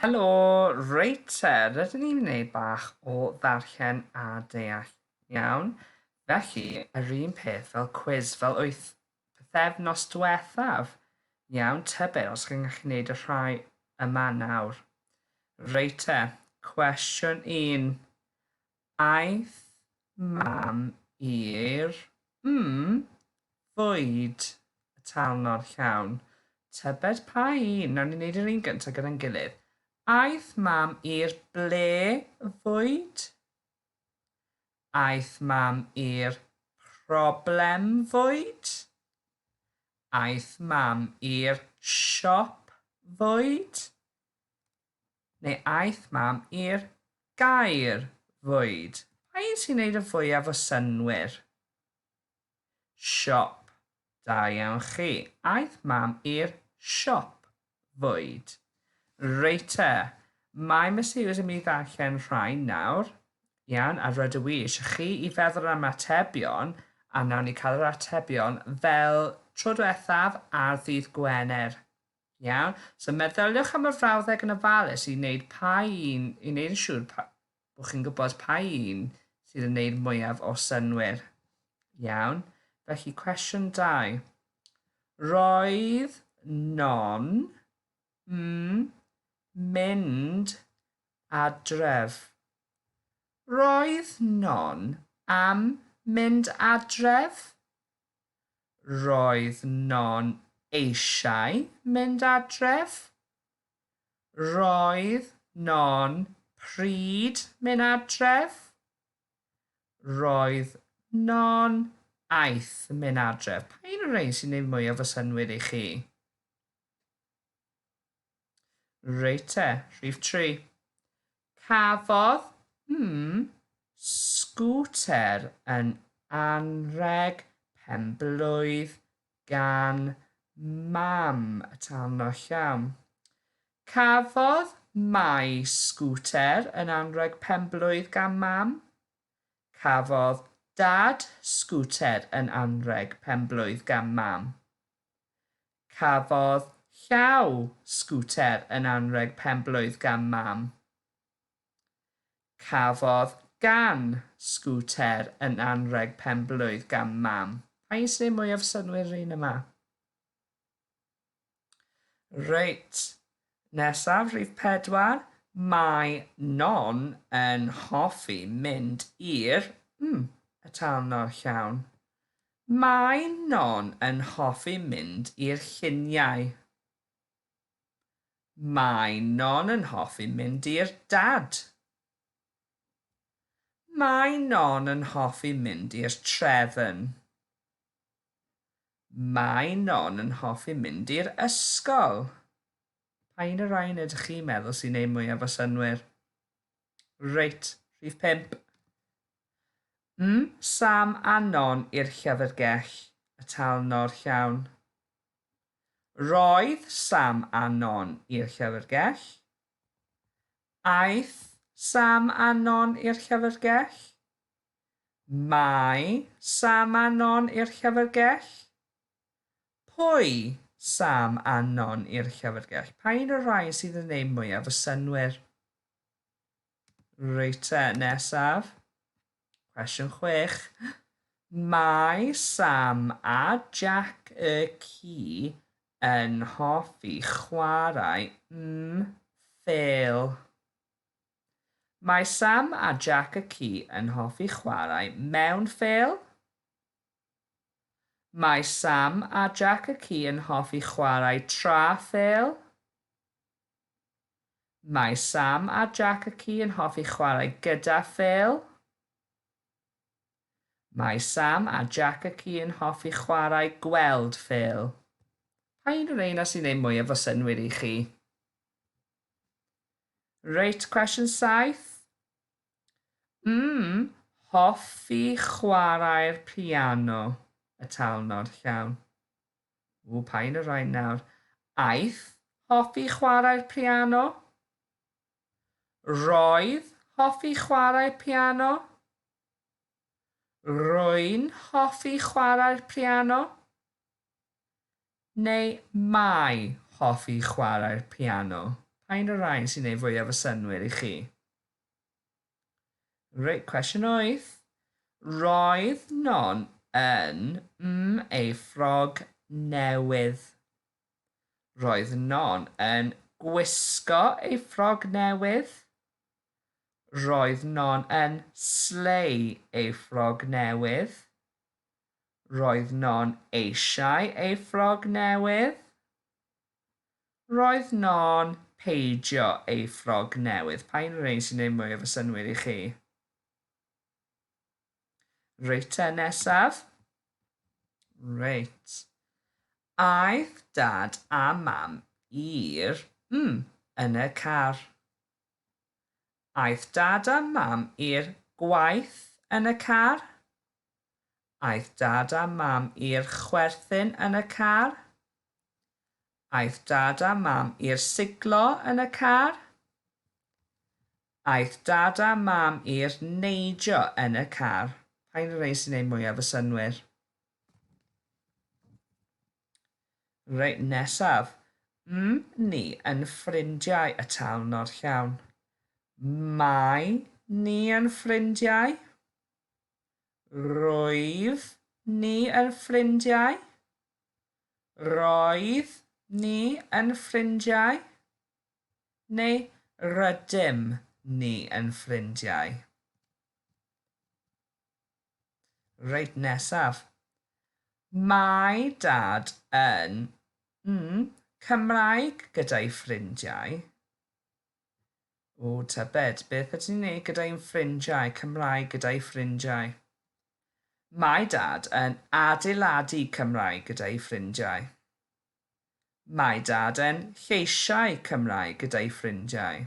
Helo reit te, rydyn ni'n wneud bach o ddarllen a deall iawn, felly yr un peth fel cwis fel wyth pythefnos diwethaf. Iawn tybed os chi'n gallu wneud y rhai yma nawr. Reit te, cwestiwn un. Aeth mam i'r mm fwyd y talnod llawn. Tybed pa un? Wnawn ni wneud yr un gyntaf gyda'n gilydd. Aeth mam i'r ble fwyd? Aeth mam i'r problem fwyd? Aeth mam i'r siop fwyd? neu aeth mam i'r gaer fwyd. Pa un sy'n neud y fwyaf o synnwyr? Siop. Da iawn chi. Aeth mam i'r siop fwyd. Reit te. Mae Miss Hughes yn mynd i ddarllen rhain nawr. Iawn, a rydw i eisiau chi i feddwl am atebion, a nawn ni cael yr atebion fel tro diwethaf ar ddydd Gwener. Iawn, so meddyliwch am y frawddeg yn ofalus i wneud pa un, i wneud yn siŵr pa, bod chi'n gwybod pa un sydd yn gwneud mwyaf o synwyr. Iawn, felly cwestiwn 2. Roedd non mm mynd adref. Roedd non am mynd adref? Roedd Non eisiau mynd adref. Roedd Non pryd mynd adref. Roedd Non aeth mynd adref. Pa un o'r rhein sy'n neud mwyaf o synnwyr i chi? Reit te, rhif tri. Cafodd, hmm, sgwter yn anrheg penblwydd gan mam y tarno llawn. Cafodd Mai sgwter yn anrheg penblwydd gan mam. Cafodd Dad sgwter yn anrheg penblwydd gan mam. Cafodd Llaw sgwter yn anrheg penblwydd gan Mam. Cafodd Gan sgwter yn anrheg penblwydd gan Mam. Pa un sy'n neud mwyaf synnwyr yr un yma? Reit, nesaf, rhif pedwar. Mae Non yn hoffi mynd i'r, mm, y tân o'r llawn. Mae Non yn hoffi mynd i'r lluniau. Mae Non yn hoffi mynd i'r dad. Mae Non yn hoffi mynd i'r trefn. Mae Non yn hoffi mynd i'r ysgol. Pa un o'r rhain ydych chi'n meddwl sy'n neud mwyaf o synnwyr? Reit, rhif pump. M, Sam anon i'r llyfrgell, y talnor llawn. Roedd Sam anon i'r llyfrgell. Aeth Sam anon i'r llyfrgell. Mae Sam anon i'r llyfrgell. Pwy Sam anon i'r llyfrgell? Pa un o'r rhai sydd yn eu mwyaf o synwyr? Reit te, nesaf. Cwestiwn chwech. Mae Sam a Jack y ci yn hoffi chwarae mm fel. Mae Sam a Jack y ci yn hoffi chwarae mewn fel. Mae Sam a Jack y ci yn hoffi chwarae tra fel. Mae Sam a Jac y ci yn hoffi chwarae gyda phêl. Mae Sam a Jac y ci yn hoffi chwarae gweld phêl. Pa un o reina sy'n ei mwyaf o synnwyr i chi? Reit, cwestiwn saith. Mm, hoffi chwarae'r piano, y talnod, llawn. Ww, pa un o rain nawr? Aeth hoffi chwarae'r piano? Roedd hoffi chwarae'r piano? Rwy'n hoffi chwarae'r piano? Neu mae hoffi chwarae'r piano? Pa un o rain sy'n ei fwyaf o synwyr i chi? Reit, cwestiwn wyth. Roedd Non yn mm ei ffrog newydd. Roedd Non yn gwisgo ei ffrog newydd. Roedd Non yn slei ei ffrog newydd. Roedd Non eisiau ei ffrog newydd. Roedd non peidio ei ffrog newydd. Pa un o'r rhein sy'n neud mwyaf o synwyr i chi? Reit te, nesaf. Reit. Aeth dad a mam i'r mm yn y car. Aeth dad a mam i'r gwaith yn y car. Aeth Dad a Mam i'r chwerthin yn y car. Aeth Dad a Mam i'r siglo yn y car. Aeth Dad a Mam i'r neidio yn y car. Pa un o'r rhein sy'n gwneud mwyaf y synnwyr? Reit, nesaf. M ni yn ffrindiau y taln o'r llawn. Mae ni yn ffrindiau. Roedd ni yn ffrindiau. Roedd ni yn ffrindiau. Neu rydym ni yn ffrindiau. Reit, nesaf. Mae Dad yn, mm, Cymraeg gyda'i ffrindiau. Ww, tybed, beth ydyn ni'n ei gyda'i ffrindiau, Cymraeg gyda'i ffrindiau? Mae Dad yn adeiladu Cymraeg gyda'i ffrindiau. Mae Dad yn lleisiau Cymraeg gyda'i ffrindiau.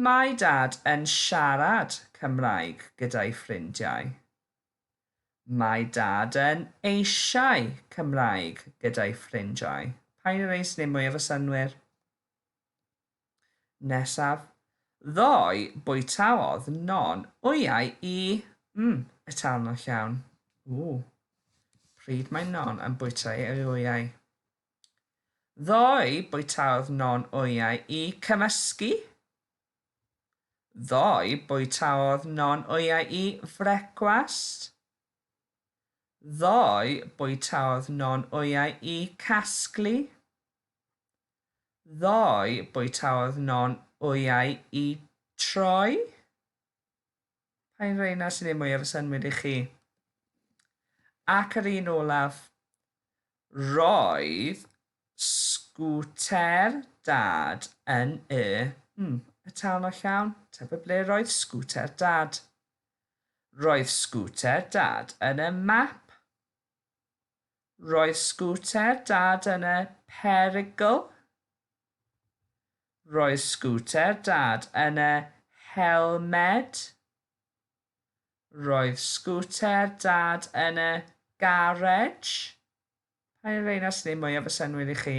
Mae Dad yn siarad Cymraeg gyda'i ffrindiau. Mae Dad yn eisiau Cymraeg gyda'i ffrindiau. Paun yr Eis neu mwy efo synwyr. Nesaf, ddoe bwytaodd Non wyau i, mm, etalno llawn. Ww. Pryd mae Non yn bwyta ei wyau? Ddoe bwytaodd Non wyau i cymysgu. Ddoe bwytaodd Non wyau i frecwast. Ddoe bwytaodd Non wyau i casglu. Ddoe bwytaodd Non wyau i troi? Paun reina sy'n neud mwyaf o synnwyr i chi? Ac yr un olaf, Roedd sgwter Dad yn y, hmm, y tân o llawn? Tybed ble roedd sgwter Dad? Roedd sgwter Dad yn y map. Roedd sgwter Dad yn y perygl. Roedd sgwter Dad yn y helmed. Roedd sgwter Dad yn y garej. Pa un o'r rheina sy'n ei mwyaf o synnwyr i chi?